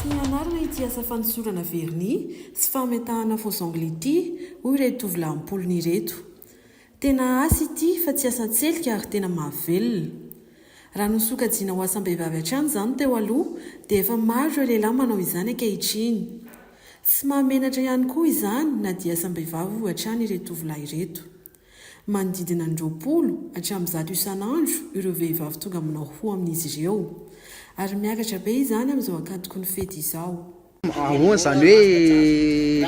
Tsy nianarana ity asa fanosorana vernis sy fametahana faux ongles ity hoy ireto tovolahy am-polony ireto. Tena asa ity fa tsy asan-tselika ary tena mahavelona. Raha nosokajiana ho asam-behivavy hatrany izany teo aloha dia efa maro ireo lehilahy manao izany ankehitriny. Tsy mahamenatra ihany koa izany na dia asam-behivavy hoy hatrany ireto tovolahy ireto. Manodidina ny roapolo hatramin'ny zato isan'andro ireo vehivavy tonga manao hoho amin'izy ireo. Ary miakatra be izany amin'izao ankatoky ny fety izao. Ahoana izany hoe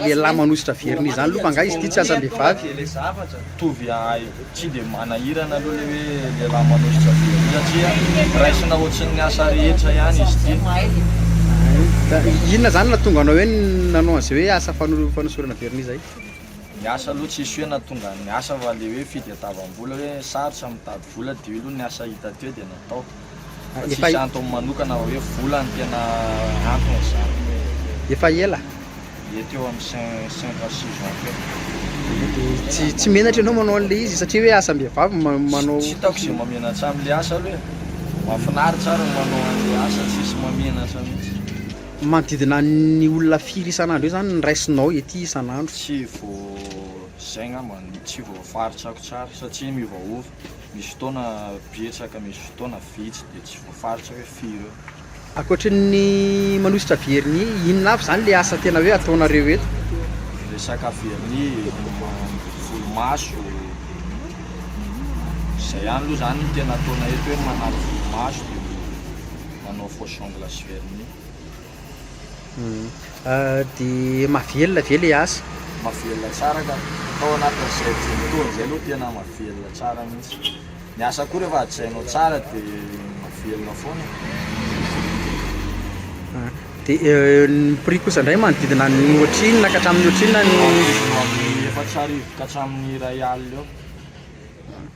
lehilahy manosotra vernis izany aloha fa angaha izy ity tsy asam-behivavy? Ilay zavatra mitovy ahy tsy dia manahirana aloha ilay hoe lehilahy manosotra vernis satria raisina ohatran'ny asa rehetra ihany izy ity. Inona izany no nahatonga anao hoe nanao an'izay hoe asa fanosorana vernis izay? Ny asa aloha tsisy hoe na tonga ny asa fa le hoe fitadiavam-bola hoe sarotra mitady vola de io aloha ny asa hita teo de natao fa tsisy antony manokana hoe vola no tena antony zany Efa ela? Mety eo am cinq à six ans teo Tsy tsy menatra ianao manao an'le izy satria hoe asam-behivavy ma- manao Tsy hitako ze mamenatra am'le asa aloha e! Mahafinaritra ary ny manao an'le asa tsisy mamenatra mihitsy. Manodidina ny olona firy isan'andro eo zany ny raisinao ety isan'andro? Tsy vo zay ngamba no tsy voafaritsako tsara satria miovaova, misy fotoana betsaka misy fotoana vitsy de tsy voafaritra hoe firy eo. Ankoatry ny manosotra vernis, inona avy zany le asa tena hoe ataonareo eto? Resaka vernis, volomaso, zay ihany aloha zany tena ataonay eto hoe manary volomaso de manao fausse ongle sy vernis. Dia mahavelona ve ilay asa? Mahavelona tsara ka! Tao anatin'izay dimy taona izay aloha tena mahavelona tsara mihitsy. Ny asa koa rehefa hajainao tsara dia mahavelona foana e! Dia ny prix kosa indray manodidina ny ohatrinona ka hatramin'ny ohatrinona ny? Eo amin'ny efatra arivo ka hatramin'ny iray alina eo.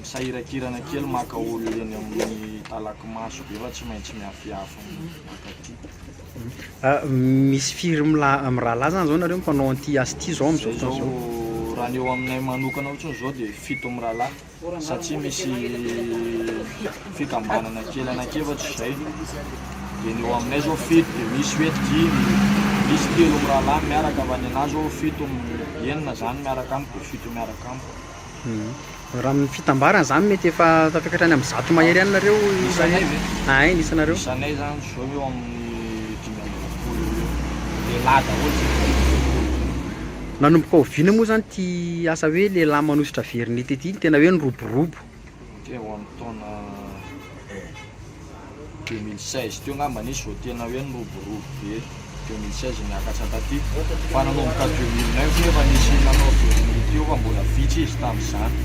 Misahirakirana kely maka olona eny amin'ny talaky maso be fa tsy maintsy miafiafy mankaty. Misy firy mirahalahy zany zao nareo mpanao an'ity asa ity zao amin'izao fotoana izao? Izao raha ny eo aminay manokana fotsiny izao dia fito mirahalahy satria misy fikambanana kely anankiefatra izay dia ny eo aminay izao fito dia misy hoe dimy, misy telo mirahalahy miaraka fa ny anah izao fito, enina izany miaraka amiko dia fito miaraka. Raha amin'ny fitambarana izany mety efa tafakatra any amin'ny zato mahery any nareo isanay ve? Ahay ny isanareo? Isanay zany zao eo amin'ny dimy amby roapolo eo ho eo, lehilahy daholo zay dimy amby roapolo. Nanomboka oviana moa zany ity asa hoe lehilahy manosotra vernis ity? Tena hoe niroborobo Teo amin'ny taona deux mille seize teo angamba nisy vao tena hoe niroborobo be, deux mille seize niakatra taty, fa nanomboka deux mille neuf moa efa nisy nanao vernis teo fa mbola vitsy izy tamin'izany,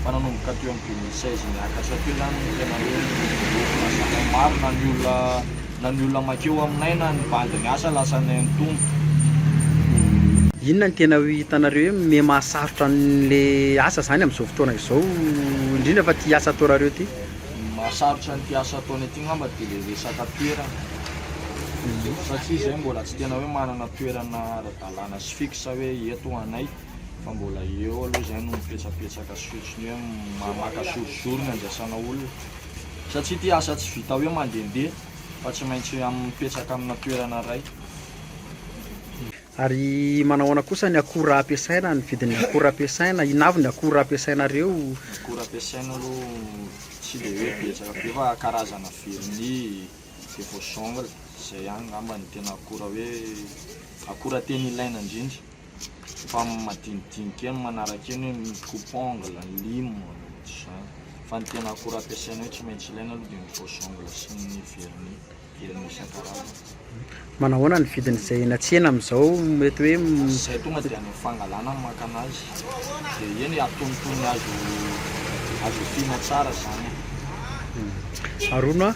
fa nanomboka teo amin'ny deux mille seize niakatra teo izany no tena hoe niroborobo, nahazahoana maro na ny olona. Na ny olona makeo aminay na ny bandy miasa lasanay ny tombo. Inona ny tena hitanareo hoe me mahasarotra anle asa zany amzao fotoana izao indrindra fa ty asa ataonareo ty? Ny mahasarotra an'ity asa ataonay ity ngamba dia le resaka toerana satria izahay mbola tsy tena hoe manana toerana ara-dalàna sy fixe hoe eto ho anay fa mbola eo aloha izahay no mipetrapetsaka sy otriny hoe maka jour jour ny andraisana olona. Satria ity asa tsy vita hoe mandehandeha fa tsy maintsy mipetraka amina toerana iray. Ary manahoana kosa ny akora ampiasaina, ny vidin'ny akora ampiasaina? Inona avy ny akora ampiasainareo? Ny akora ampiasaina aloha tsy dia hoe betsaka be fa karazana vernis, de faux ongles, izay ihany angamba no tena akora hoe akora tena ilaina indrindra. fa madinidinika eo ny manaraka eo ny hoe ny coupe ongle, ny lime, na ohatr'izany. Fa ny tena akora ampiasaina hoe tsy maintsy ilaina aloha dia ny brosse ongle sy ny vernis, vernis isan-karazany. Manao ahoana ny vidin'izay eny an-tsena amin'izao mety hoe m- Izay tonga dia any amin'ny fangalana no maka anazy, dia eny atonontonony azo azo efiana tsara izany e. Arono a!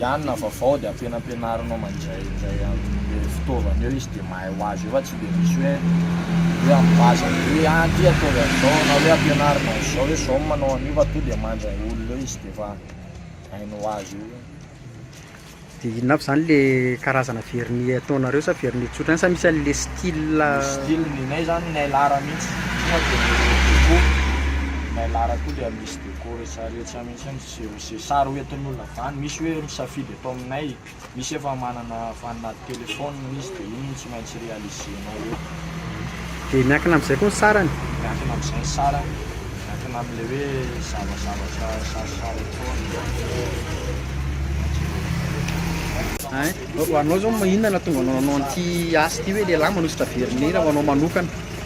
ihany na vaovao dia ampianampianarinao mandray indray amle fitaovana eo izy dia mahay ho azy eo fa tsy dia misy hoe hoe ampivaza ny hoe ah ty ataovy an'izao na hoe ampianarina an'izao hoe zao ny manao an'io fa to dia mandray olona eo izy dia efa hainy ho azy eo Dia inona aby zany le karazana vernis ataonareo sa vernis tsotra ihany sa misy an'le style Ny style ny anay zany ny Ailara mihitsy tonga dia ny rojo koa ny Ailara koa dia misy deco rehetra rehetra mihitsy ny Zero ze sary ho entin'olona zany, misy hoe misafidy eto aminay, misy efa manana vanina téléphone izy de iny no tsy maintsy réaliser-nao eo. Dia miankina amin'izay koa ny sarany? Miankina amin'izay ny sarany, miankina amin'ilay hoe zavazavatra sarisary ataony na ny hoe Hein, ho anao zao inona no nahatonga anao hanao an'ity asa ity hoe lehilahy manosotra vernis raha ho anao manokana?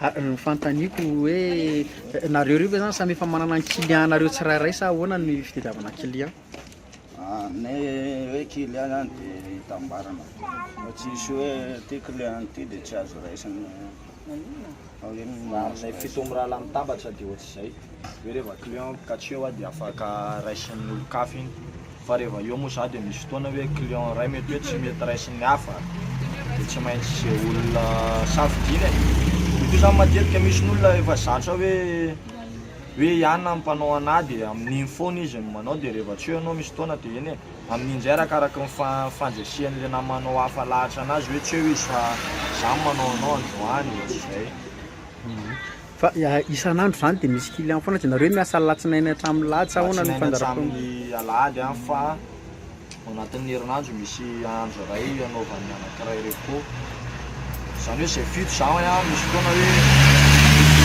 Ary ny fanontaniako hoe nareo roa ve zany samy efa manana ny client nareo tsirairay sa ahoana ny fitadiavana client? Ny hoe client zany de hitambarana fa tsy hisy hoe ty client ty de tsy azo raisina fa hoe manome fito mirahalahy mitambatra de ohatr'izay, hoe reva client katreo dia afaka raisin'ny olon-kafa iny. Fa reva eo moa za de misy fotoana hoe client ray mety hoe tsy mety raisin'ny hafa de tsy maintsy ze olona safidiana e! Io koa zany matetika misy ny olona efa zatra hoe hoe i anona no mpanao anah de amin'iny foana izy no manao de reva tsy eo ianao misy fotoana de eny e! Amin'iny zay arakaraky ny fa fandresihan'le namanao hafa lahatra anazy hoe tsy eo izy fa za no manao anao androany ohatr'izay. Fa isan'andro izany dia misy client foana, dia nareo hoe miasa alatsinainy hatramin'ny lahady sa ahoana ny fandaharam-potoana? Alatsinainy hatramin'ny alahady an, fa ao anatin'ny herinandro misy andro iray anaovan'ny anankiray repos, izany hoe izay fito za an, misy fotoana hoe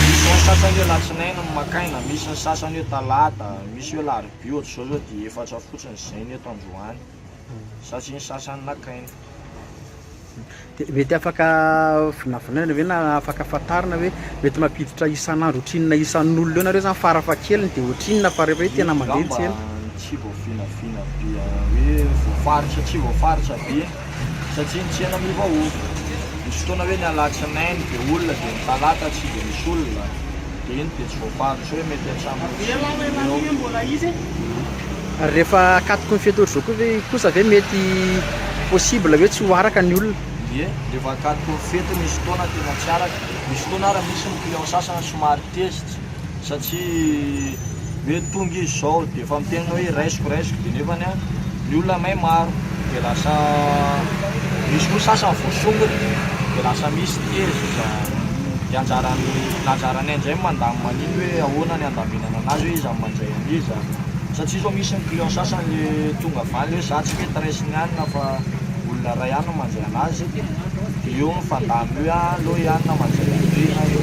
misy ny sasany hoe alatsinainy no maka aina, misy ny sasany hoe talata, misy hoe alarobia, ohatr'izao zao dia efatra fotsiny izay ny eto androany satria ny sasany naka aina. Dia mety afaka vinavinaina ve na afaka fantarina hoe mety mampiditra isan'andro ohatrinona isan'olona eo nareo zany farafahakeliny dia ohatrinona fa rehefa hoe tena mandeha ny tsena? Angamba tsy voavinavina be hoe voafaritra aty voafaritra be satria ny tsena miovaova. Misy fotoana hoe ny alatsinainy be olona dia ny talata tsy dia misy olona. Eny dia tsy voafaritra hoe mety hatramin'ny dimy eo. Ary rehefa akatoky ny fety orzoko ve kosa ve mety possible hoe tsy ho araka ny olona? Ie, rehefa akatoky ny fety misy fotoana tena tsy araka. Misy fotoana ary misy ny client sasany somary tezitra satria. Mety tonga izy izao dia efa miteny hoe raisiko raisiko dia nefany a ny olona may maro dia lasa misy koa sasany voasongona dia lasa misy tezitra dia anjaran'ny ny anjaranay amin'izay ny mandamina an'iny hoe ahoana ny handaminana an'azy hoe iza no mandray an'iza satria izao misy ny client sasany le tonga avy any hoe za tsy mety raisina ihany na fa olona iray ihany no mandray an'azy dia eo ny fandamina hoe aleo ihany na mandray an'ireny na eo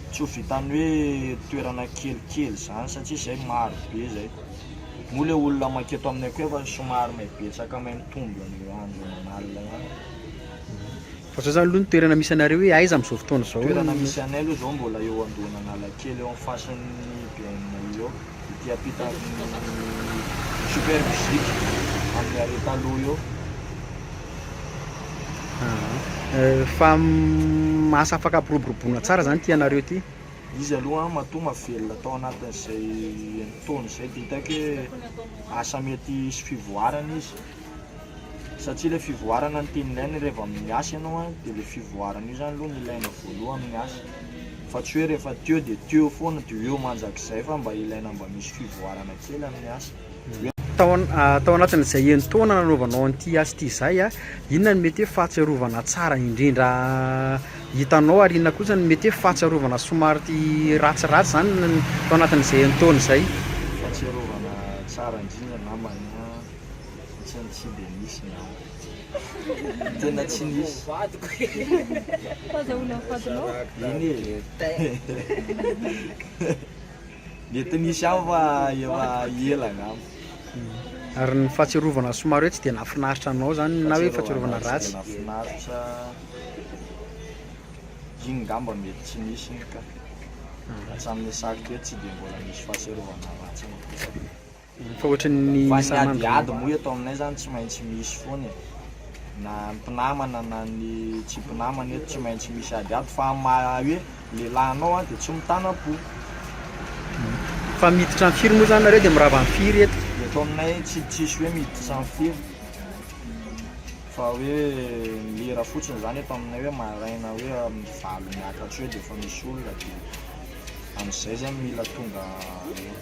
Tsy ho vitan'ny hoe toerana kelikely izany satria izay maro be izay. Moa ilay olona maika eto aminay koa efa somary mahay betsaka mahay mitombo an'io andro aman'alina ihany. Fa zao zany aloha ny toerana misy anareo hoe aiza amin'izao fotoana izao? Toerana misy anay aloha izao mbola eo andohan'Analakely eo amin'ny fasan'ny BNI eo, ety ampitan'ny Super Music, amin'ny arret taloha eo. Fa asa afaka ampiroboroboana tsara zany ity anareo ity? Izy aloha an matoa mahavelona tao anatin'izay enin-taona izay dia hitako hoe asa mety hisy fivoarana izy satsia ilay fivoarana no tian'ny aina rehefa miasa ianao an dia ilay fivoarana io zany aloha no ilaina voalohany ny asa fa tsy hoe rehefa teo dia teo foana dia eo mandrakizay fa mba ilaina mba misy fivoarana kely amin'ny asa. Tao anatin'izay enin-taona nanaovanao an'ity asa ity izay, inona no mety hoe fahatsiarovana tsara indrindra hitanao ary inona kosa no mety hoe fahatsiarovana somary ratsiratsy izany tao anatin'izay enin-taona izay? Ny fahatsiarovana tsara indrindra angambany ohatran'ny tsy dia nisy angamba, tena tsy nisy. Eny e! Mety nisy ihany fa efa ela angamba. Ary ny fahatsiarovana somary hoe tsy dia nahafinaritra anao zany na hoe fahatsiarovana ratsy? Fahatsiarovana tsy dia nahafinaritra, iny ngamba mety tsy nisy iny ka. Hatramin'ny saky teto tsy dia mbola nisy fahatsiarovana ratsy nampiasako. Fa ohatran'ny Fa ny isan'andro ady no. ady moa eto aminay zany tsy maintsy misy foana e! Na ny mpinamana na ny tsy mpinamana eto tsy maintsy misy ady ady fa amin'ny maha hoe lehilahy anao an dia tsy mitanam-po. Fa miditra amin'ny firy moa zany nareo dia mirava amin'ny firy eto? Eto aminay tsy tsisy hoe miditra amin'ny firy fa hoe lera fotsiny zany eto aminay hoe maraina hoe amin'ny valo miakatra eo dia efa misy olona dia amin'izay zay mila tonga eo.